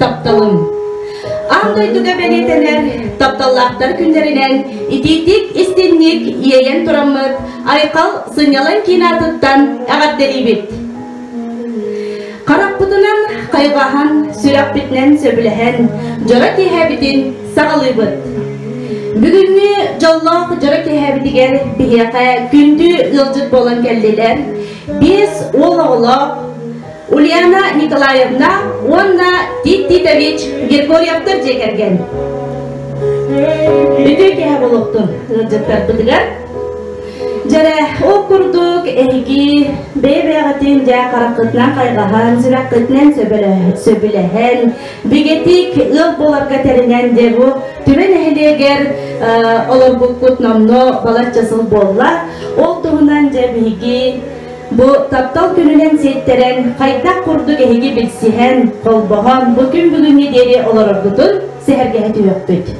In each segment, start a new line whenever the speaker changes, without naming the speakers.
тапталым. Аан дойдуга бэлиэтэнэр тапталлаахтар күннэринэн итиитик-истинник иэйэн тураммыт Айхал сынньалаҥ киин аатыттан эҕэрдэлиибит! Харахпытынан хайҕаһан, сүрэхпитинэн сөбүлэһэн дьоро киэһэбитин саҕалыыбыт. Бүгүҥҥү дьоллоох дьоро киэһэбитигэр биһиэхэ күндү ыалдьыт буолан кэллилэр биэс уол оҕолоох Ульяна Николаевна уонна Тит Титович Григорьевтар дьиэ кэргэн. Бүдүү кэһэ болуктун ыалдьыттарбытыгар. Дьэрэ, ол курдук эһиги бэйэ-бэйэҕитин дьэ хараххытынан хайҕаһан, сүрэххитинэн сөбүлэһэн, бигэтик ыал боларга тэринэн дьэ бу түбэ нэһилиэгэр олорбуккут номно балачча сыл буолла. Ол туһунан дьэ биһиги Бу таптал күнүнэн ситтэрэн, хайдах курдук эһиги билсиһэн, холбоһон бу күн бүгүҥҥэ диэри олороргутун сэһэргэһэ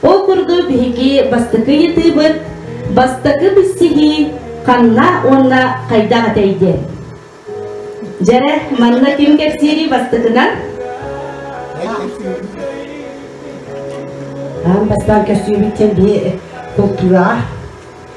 Ол курдук биһиги бастакы ыйытыыбыт бастакы билсиһии ханна уонна хайдах этэй диэн. Дьэрэ, манна ким кэпсиирий бастакынан? Аан бастаан кэпсиибит диэн бии култуураҕа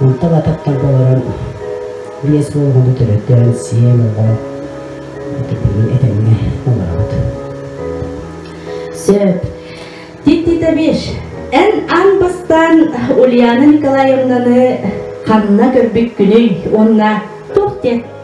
Онтон ататтарга олорон биэс уон оҕону төрөтөн, сиэн оҕо ититиҥи этэҥҥэ олоробут. Сөп. Титтитэбиш, эн аң бастаан Ульяна Николаевнаны ханна көрбүккүнүй уонна туох диэн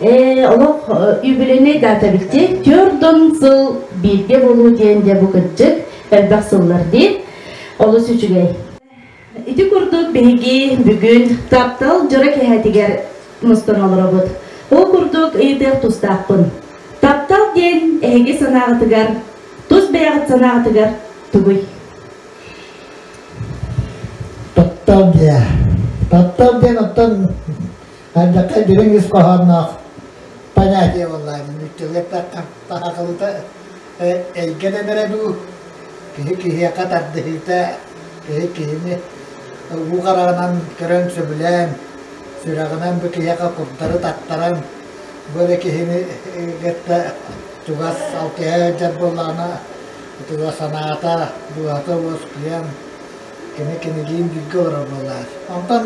Э, олох юбилейнай дата бикти төрдөн сыл бииргэ болуу диэн де бу кытчык элбэх сыллар дии олус үчүгэй ити курдук биһиги бүгүн таптал дьоро кэһэтигэр мустан олоробут ол курдук ыйытыах тустаахпын таптал диэн эһиги санааҕытыгар тус бэйэҕит санааҕытыгар тугуй таптал диэн таптал диэн оттон Хайдахха дириҥ ис хоһоонноох понятие буоллаан мүччүгэппэт таһаҕалыта эйгэн эмэрэ дуу киһи киһиэхэ тардыһыыта киһи киһини уу хараҕынан көрөн сөбүлээн сүрэҕинэн бу киһиэхэ курдары таттаран бу эрэ киһини кытта чугас алтыһа дьар буоллаҕына чугас санаата дууһата уоскуйан кини кинилиин бииргэ олорор буоллаҕа. Онтон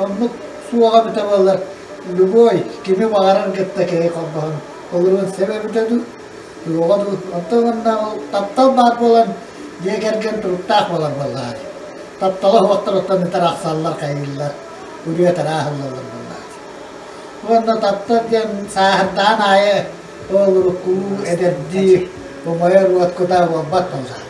оннук суоҕа бүтэ буоллар, любой кими баҕарар кытта киһи холбоһон олоруон сөп эбитэ дуу, суоҕа дуу. Оттон манна ол таптал баар буолан, дьиэ кэргэн туруктаах буолар буоллаҕа. Таптала суохтар оттон ытар ахсаллар, хайыыллар, үрүөт арааһыллаллар буоллаҕа. Уонна таптал диэн сааһырдаан аайы ол урукку эдэрдии умайар уот куда буолбат буоллаҕа.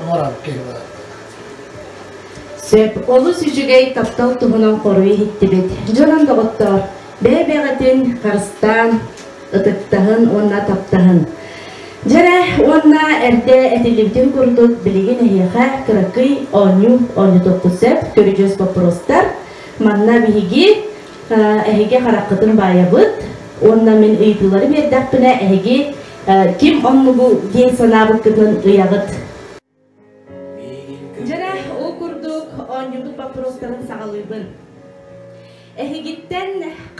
оҥорон киһи олороллор. Сөп. Олус үчүгэй таптал туһунан хоруй иһиттибит. Дьонун доҕоттоор, бэйэ-бэйэҕитин харыстаан, ытыктаһын уонна таптаһын. Дьэрэ уонна эрдэ этиллибитин курдук билигин эһиэхэ кыракый оонньуу оонньотуохпут сөп. Көрүдьүөс боппуруостар. Манна биһиги эһиги хараххытын баайабыт уонна мин ыйытыылары биэрдэхпинэ эһиги Ким онну бу диэн санаабыккытын ыйаҕыт. Дьэрэ, ол курдук оонньуубут боппуруостарын саҕалыыбын. Эһигиттэн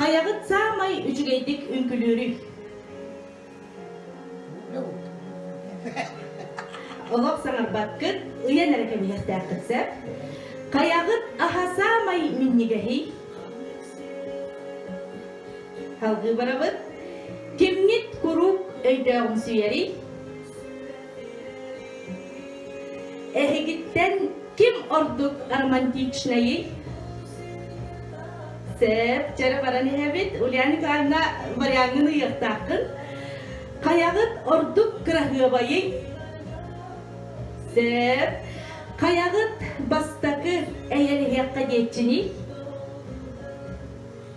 хайаҕыт саамай үчүгэйдик үҥкүлүүрүй? Олох саҥарбаккыт, ыйан эрэ кэбиһиэхтээххит сөп. Хайаҕыт аһа саамай минньигэһий? Салгыы барабыт. Кимҥит куруук өйдөөҕүн сүйэрий? Эһигиттэн ким ордук романтичнайый? Сеп, чара баран иһэбит. Ульяна Николаевна, вариангын ыйыахтааххын. Хайаҕыт ордук кыраһыабайый? Сеп, хайаҕыт бастакы эйэлиһиэххэ диэччиний?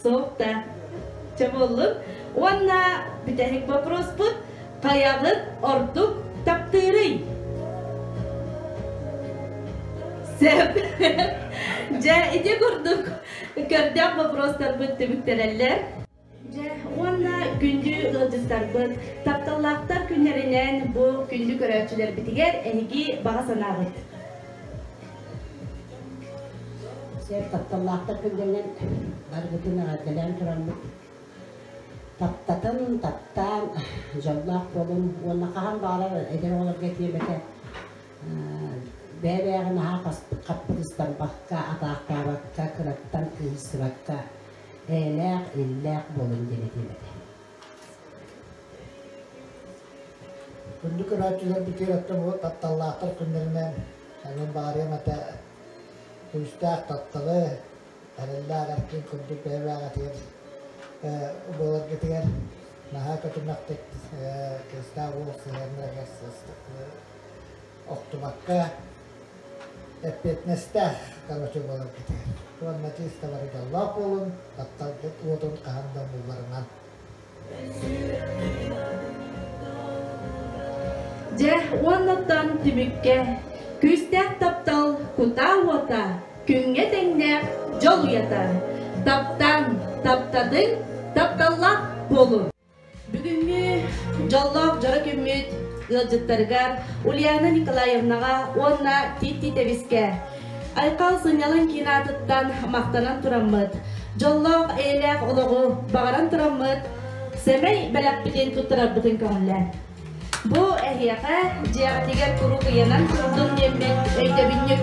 Суохта. Чабыллык уонна бүтэһик боппуруспут хайалык ордук таптыырый? Сөп. Дьэ, ити курдук көрдөөх боппуруостарбыт түбүктэрэллэр. Дьэ, уонна күндү ыалдьыттарбыт, тапталлаахтар күннэринэн бу күндү көрөөччүлэрбитигэр эһиги баҕа санаҕыт? Сэр тапталлаахтар күргэннэн баргытын эҕэрдэлээн тураммыт. Таптатын, таптаан, дьоллоох буолун уонна хаһан баҕарар эдэр оҕолорго тиэмэтэ бэйэ-бэйэҕэ наһаа хаппырыстаммакка, атаахтаабакка, кыраттан кыыссыбакка, эйэлээх, иллээх буолун диэн этиэм этэ. Үрдүк көрөөччүлэр битиэрэттэ бу тапталлаахтар күннэринэн онон баарыам этэ күүстээх тапталы эрэллээх эркин курдук бэйэбээҕэтигэр боларгытыгар наһаа көтүмэхтик кыыстаах уол сыһыаннарыгар сыстык охтубакка, эппиэтинэстээх короче буолар кэтэр. Уонна тиисталары даллаах буолун, тапталгыт уотун хаһан да булларынан. Дьэ, уоннаттан түмүккэ күүстээх таптал кутаа уота күҥҥэ тэҥнээх дьол уйата. Таптаҥ, таптадыҥ, тапталлаах буолун. Бүгүҥҥү дьоллоох дьоро күммүт ыалдьыттарыгар Ульяна Николаевнаҕа уонна Тит Титэбискэ Айхал сынньалаҥ киин аатыттан махтанан тураммыт, дьоллоох эйэлээх олоҕу баҕаран тураммыт сэмэй бэлэхпитин туттарарбытын көҕүллэр. Бу эһиэхэ дьиэҕитигэр куруук ыйанан турдун диэммит өйдөбүнньүк